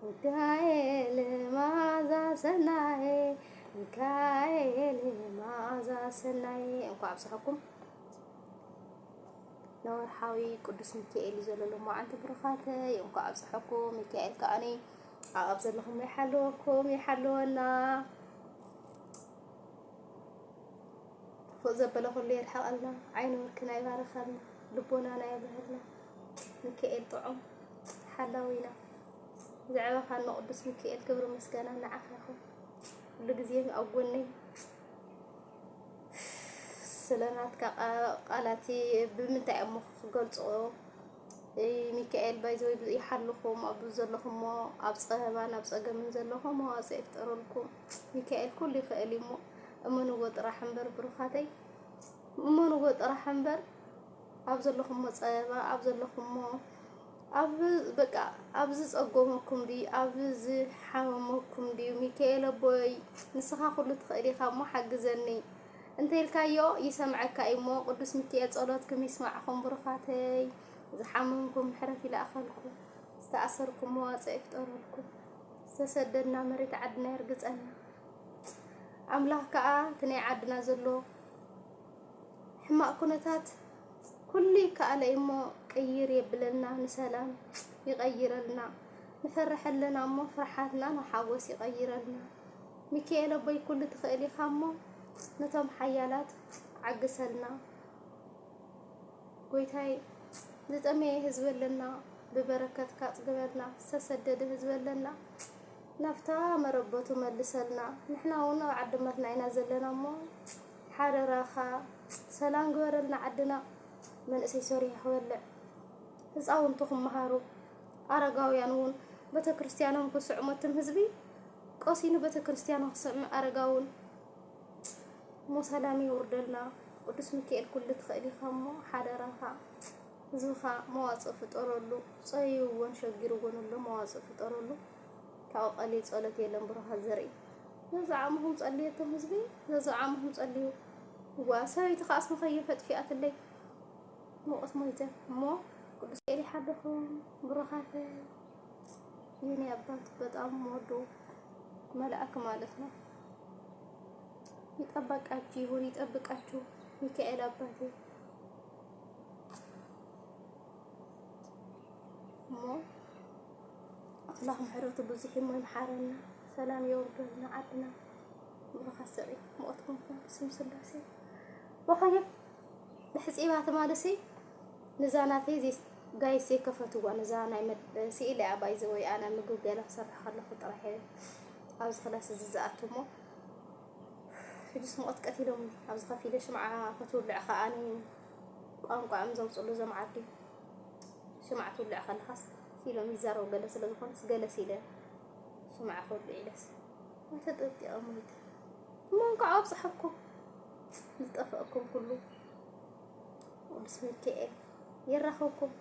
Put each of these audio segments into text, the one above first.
ሚካኤል መዓዛ ሰናየ ሚካኤል መዓዛ ሰናየ እንኳዕ ኣብፀሐኩም ንወርሓዊ ቅዱስ ሚካኤል እዩ ዘሎ መዓልቲ ብሩኻተ እንኳዕ ኣብፀሐኩም ሚካኤል ከዓኒ ኣብ ዘለኹም ይሓለወኩም ይሓለወና ፎእ ዘበለ ኩሉ የርሕቐልና ዓይኒ ወርክና ይባረኸልና ልቦናና የብርሃልና ሚካኤል ጥዑም ሓላዊና ዘዕበኻኒ ቅዱስ ሚኪኤል ክብሪ ምስጋና ንዓኻ ይኹን። ኩሉ ግዜ ኣብ ጎነይ ስለናትካ ቃላት ብምንታይ እሞ ክገልጾ ሚካኤል ባይዘወይ ይሓልኹም ኣብ ዘለኹሞ ኣብ ፀበባን ኣብ ፀገምን ዘለኹም መዋፅ ይፍጠረልኩም። ሚካኤል ኩሉ ይኽእል እሞ እመንዎ ጥራሕ እምበር ብሩኻተይ እመንዎ ጥራሕ እምበር ኣብ ዘለኹሞ ፀበባ ኣብ ዘለኹሞ ኣብ በቃ ኣብ ዝጸጎመኩም ድዩ ኣብ ዝሓመመኩም ድዩ ሚካኤል ኣቦይ ንስኻ ኩሉ ትኽእል ኢኻ እሞ ሓግዘኒ እንተልካዮ ይሰምዐካ እዩ እሞ ቅዱስ ሚካኤል ጸሎትኩም ይስማዕኹም ብሩኻተይ ዝሓመምኩም ምሕረት ይልኣኸልኩም ዝተኣሰርኩም መዋጽኦ ይፍጠረልኩም ዝተሰደድና መሬት ዓድና የርግጸና ኣምላኽ ከዓ እቲ ናይ ዓድና ዘሎ ሕማቅ ኩነታት ኩሉ ይከኣል እዩሞ ቅይር የብለልና ንሰላም ይቀይረልና ንፈርሕ ኣለናሞ ፍርሓትና ንሓጎስ ይቀይረልና ሚኪኤል ኣቦይ ኩሉ ትክእል ኢካሞ ነቶም ሓያላት ዓግሰልና ጎይታይ ዝጠመየ ህዝቢ ኣለና ብበረከትካ ኣፅግበልና ዝተሰደደ ህዝቢ ኣለና ናብታ መረበቱ መልሰልና ንሕና እውን ኣብ ዓዲ መርና ኢና ዘለና እሞ ሓደራኻ ሰላም ግበረልና ዓድና መንእሰይ ሰሪሑ ክበልዕ ህፃውንቲ ክመሃሩ ኣረጋውያን እውን ቤተክርስትያኖም ክስዕሙ ትም ህዝቢ ቀሲኑ ቤተክርስትያኑ ክሰሚ ኣረጋውን እሞ ሰላም ይውርደልና ቅዱስ ሚካኤል ኩሉ ትኽእል ኢኻ እሞ ሓደራኻ ህዝብኻ መዋፅእ ፍጠረሉ ፀይዎን ሸጊርዎን ኣሎ መዋፅእ ፍጠረሉ ካብኡ ቀሊል ጸሎት የለን ብሩኻት ዘርኢ። ዘዝዓሙኹም ጸልዩ እቶም ህዝቢ ዘዝዓሙኹም ጸልዩ እዋ ሰበይቲ ከ ኣስሚ ከየፈጥፊኣትለይ ሙቐት ሞይተ እሞ ቅዱስ ኤሊ ሓደኹም ብሩኻተ የኔ አባት በጣም ወዶ መልአክ ማለት ነው። ይጠበቃችሁ ይሁን ይጠብቃችሁ ሚካኤል አባቴ እሞ ኣምላኽ ምሕረቱ ብዙሕ እሞ ይምሓረና ሰላም የውርደልና ዓድና ምሩኻት ሰብይ ሞትኩም ስም ስላሴ ወኸየ ብሕፂባ ትማልሲ ንዛ ናተይ ዘይ ጋይስ ዘይከፈትዋ ንዛ ናይ ስኢለ እያ ባይ ዘወይ ኣነ ምግብ ገለ ክሰርሕ ከለኹ ጥራሕ እየ ኣብዚ ክላስ እዚ ዝኣቱ እሞ ሕጅስ ሙቐት ቀቲሎምኒ ኣብዚ ከፊለ ሽምዓ ክትውልዕ ከዓኒ ቋንቋ እዮም ዘውፅሉ እዞም ዓዲ ሽምዓ ትውልዕ ከለኻስ ኢሎም ይዛረቡ ገለ ስለ ዝኾኑስ ገለስ ኢለ ሽምዓ ክውልዕ ኢለስ ተጠጢቐ ሞይተ እሞ እንኳዕ ኣብፀሐኩም ዝጠፈእኩም ኩሉ ቅዱስ ሚካኤል የራኸብኩም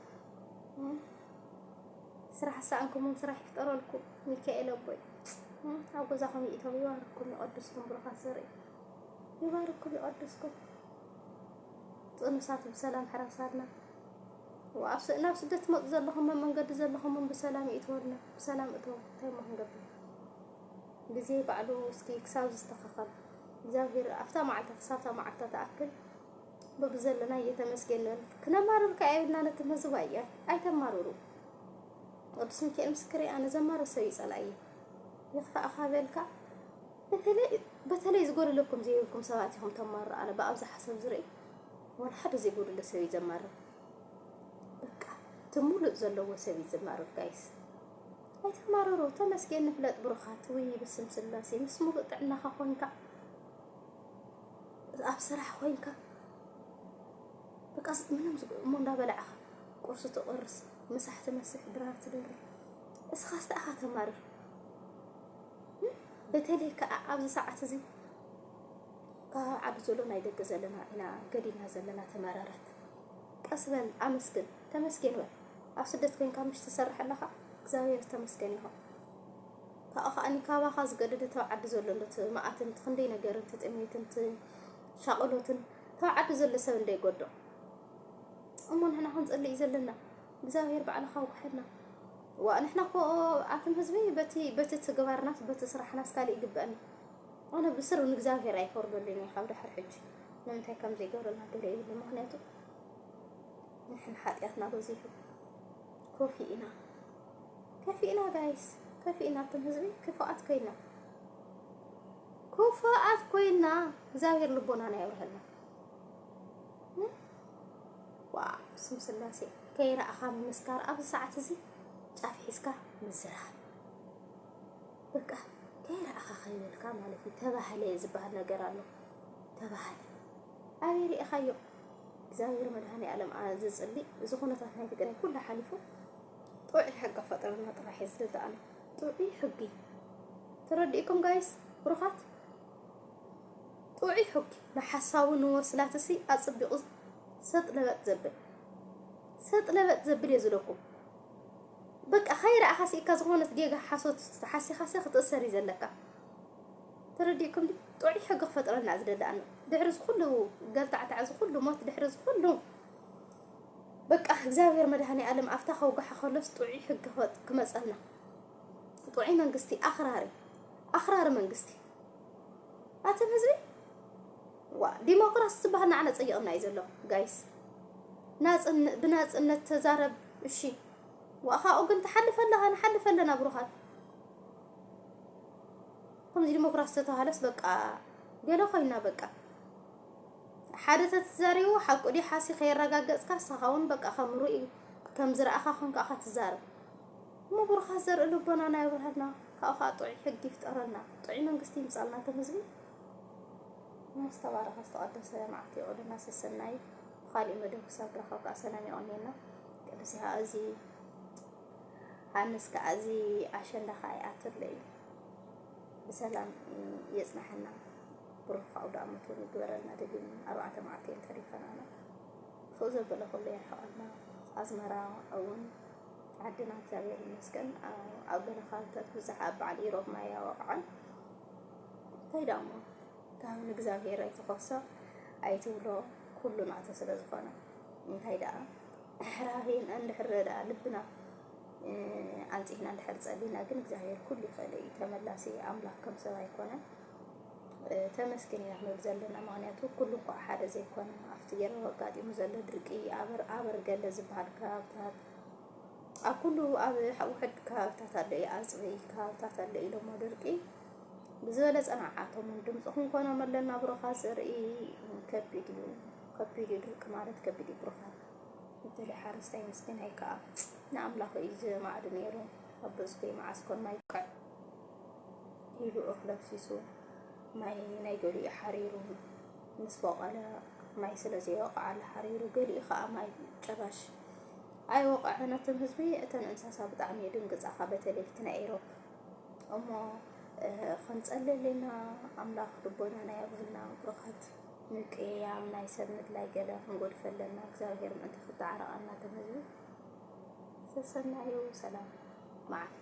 ስራሕ ሰኣንኩምም ስራሕ ይፍጠረልኩም ሚካኤል ኣቦይ ኣብ ገዛኹም ይእተው ይባርኩም ይቐድስኩም ብሩኻት ዘርኢ ይባርኩም ይቐድስኩም ጥኑሳት ብሰላም ሕራሳትና ወኣብ ናብ ስደት ትመፁ ዘለኹም ኣብ መንገዲ ዘለኹም ብሰላም ይእትወልና ብሰላም እተው እንታይ እሞ ክንገብር ግዜ ባዕሉ እስኪ ክሳብ ዝስተኻኸል እግዚኣብሔር ኣብታ መዓልታ ክሳብታ መዓልታ ተኣክል በብዘለና እየተመስገን ንበል ክነማርር ከዓ የብልና ነቲ ህዝብ ኣያ ኣይተማርሩ ቅዱስ ሚካኤል ምስክር ኣነ ዘማርር ሰብ ይፀላእየ ይኽፋእኻ በልካ በተለይ በተለይ ዝጎደለኩም ዘይብልኩም ሰባት ኢኹም ተማሩ ኣነ ብኣብዝሓ ሰብ ዝርኢ ወላ ሓደ ዘይጎደለ ሰብ እዩ ዘማርር በቃ እቲ ሙሉእ ዘለዎ ሰብ እዩ ዘማርር ጋይስ ኣይተማረሩ ተመስገን ንፍለጥ ብሩኻት ወይ ብስም ስላሴ ምስ ሙሉእ ጥዕናኻ ኮንካ ኣብ ስራሕ ኮንካ በቃ ምንም እሞ እንዳበላዕኻ ቁርሲ ትቆርስ ምሳሕ ትመስሕ ድራር ትደርብ እስኻስ ተኣኻ ተማርር በተለይ ከኣ ኣብዚ ሰዓት እዚ ካብ ዓዲ ዘሎ ናይ ደገ ዘለና ኢና ገዲና ዘለና ተመረረት ቀስ በል ኣመስግን ተመስገን በል ኣብ ስደት ኮይንካ ምሽ ትሰርሕ ኣለኻ እግዚኣብሔር ተመስገን ይኹን ካብኡ ከዓኒ ካባኻ ዝገደደ ተብ ዓዲ ዘሎ ሎት መዓትን ክንደይ ነገርን ትጥሜትን ሻቕሎትን ተብ ዓዲ ዘሎ ሰብ እንደይጎዶ እሞ ንሕና ክንጸልእ እዩ ዘለና እግዚኣብሔር ባዕልኻ ውቀሐልና ዋእ ንሕና እኮ ኣቱም ህዝቢ በቲ በቲ ትግባርናስ በቲ ስራሕናስ ካልእ ይግበእና ኣነ ብስሩ ንእግዚኣብሔር ኣይፈርደሉን እየ ካብ ድሕር ሕጂ ንምንታይ ከም ዘይገብረና ገለ ይብሉ ምክንያቱ ንሕን ሓጢኣትና በዚሑ ኮፊ ኢና ከፊ ኢና ጋይስ ከፊ ኢና ኣቱም ህዝቢ ክፉኣት ኮይና ክፉኣት ኮይና እግዚኣብሔር ልቦናና የብርሃልና ዋው ስም ስላሴ ከይረኣኻ ምምስካር ኣብዚ ሰዓት እዚ ጫፍ ሒዝካ ምዝራብ በቃ ከይረኣኻ ከይበልካ ማለት እዩ። ተባህለ ዝበሃል ነገር ኣሎ። ተባህለ ኣበይ ሪእኻዮ? እግዚኣብሔር መድኃኔዓለም ዝፅሊ እዚ ኩነታት ናይ ትግራይ ኩሉ ሓሊፉ ጥዑይ ሕጊ ፈጠረና ጥራሕ እዩ ዝደለኣና ጥዑይ ሕጊ ተረዲእኩም ጋይስ ብሩኻት ጥዑይ ሑኪ ንሓሳቡ ንወስላትሲ ኣጸቢቑ ሰጥ ለበጥ ዘብል ሰጥ ለበጥ ዘብል እየ ዝብለኩም በቃ ከይረኣኻ ስኢካ ዝኾነት ጌጋ ሓሶት ሓሲኻሰ ክትእሰር እዩ ዘለካ ተረዲእኩም ዲ ጥዑይ ሕጊ ክፈጥረልና ዝደሊ ኣሎ ድሕሪ ዝኩሉ ገልታዕታዕ ዝኩሉ ሞት ድሕሪ ዝኩሉ በቃ እግዚኣብሔር መድሃኔ ዓለም ኣብታ ከውጋሓ ከሎስ ጥዑይ ሕጊ ክመጸልና ጥዑይ መንግስቲ ኣኽራሪ ኣኽራሪ መንግስቲ ኣትን ህዝቢ ዋ ዲሞክራሲ ዝበሃል ንዓና ጸይቕና እዩ ዘሎ ጋይስ ናጽን ብናጽነት ተዛረብ እሺ ዋኻኡ ግን ትሓልፈ ኣለኻ ንሓልፈ ኣለና ብሩኻት ከምዚ ዲሞክራሲ ተተባሃለስ በቃ ገለ ኮይና በቃ ሓደ ተትዛሪቡ ሓቁ ዲ ሓሲ ከየረጋገጽካ ሳኻውን በቃ ከም ርኡይ ከም ዝረኣኻ ኮንካ ትዛረብ እሞ ብሩኻት ዘርኢ ልቦናና የብርሃልና ካብኡ ከኣ ጥዑይ ሕጊ ይፍጠረልና ጥዑይ መንግስቲ ይምጻልና እቶም ህዝቢ እሞ ዝተባረኸ ዝተቐደሰ መዓልቲ የቕልና ሰሰናዩ ብኻሊእ መደብ ክሳብ ንራኸብ ከኣ ሰላም የቕንየልና ቅዱስ ይሃ እዚ ሃንስ ከኣ እዚ ኣሸንዳ ከኣ ይኣትለ እዩ ብሰላም የጽናሐና ብሩኽ ኣውደ ኣመት እውን ይግበረልና ድግም ኣርባዕተ መዓልቲ ተሪፈናና ፎእ ዘበለ ኩሉ የርሕቐልና ኣዝመራ እውን ዓድና እግዚኣብሔር ይመስገን ኣብ ገለ ከባቢታት ብዛሕ ኣብ በዓል ኢሮብ ማይ ኣወቕዐን እንታይ ዳሞ ካብ ንእግዚኣብሔር ኣይትኸሶ ኣይትብሎ ኩሉ ናተ ስለ ዝኾነ እንታይ ደኣ ሕራቤን እንድሕር ደኣ ልብና ኣንጽሕና እንድሕር ጸሊና ግን እግዚኣብሔር ኩሉ ይኽእል እዩ ተመላሲ ኣምላኽ ከም ሰብ ኣይኮነን ተመስገን ኢና ክንብል ዘለና ምክንያቱ ኩሉ እንኳዕ ሓደ ዘይኮነ ኣብቲ ገረብ ኣጋጢሙ ዘሎ ድርቂ ኣበር ኣበር ገለ ዝበሃል ከባብታት ኣብ ኩሉ ኣብ ውሕድ ከባብታት ኣሎ እዩ ኣፅቢ ከባብታት ኣሎ ኢሎሞ ድርቂ ብዝበለፀ ንዓቶም ድምፂ ክንኮኖም ኣለና ብሩኻ ዘርኢ ከቢድ እዩ ከቢድ እዩ ድርቂ ማለት ከቢድ እዩ ብሩኻ እትል ሓረስታይ ምስኪናይ ከዓ ንኣምላኽ እዩ ዝማዕዱ ነይሩ ኣብ ብዝኮይ መዓስ ኮን ማይ ኢሉ እኽሊ ኣፍሲሱ ማይ ናይ ገሊኡ ሓሪሩ ምስ በቐለ ማይ ስለ ዘይወቕዓሉ ሓሪሩ ገሊኡ ከዓ ማይ ጨባሽ ኣይወቕዐን። እቶም ህዝቢ እተን እንስሳ ብጣዕሚ ድንግፃኻ በተለይቲ ናይ ኤሮፕ እሞ ክንፀልለና ኣምላኽ ልቦናና የብህልና ብርኸት ምቅያም ናይ ሰብ ምድላይ ገለ ክንጎድፈለና እግዚኣብሔር ምእንቲ ክተዓረቐና እቶም ህዝቢ ሰሰናዩ ሰላም መዓልቲ።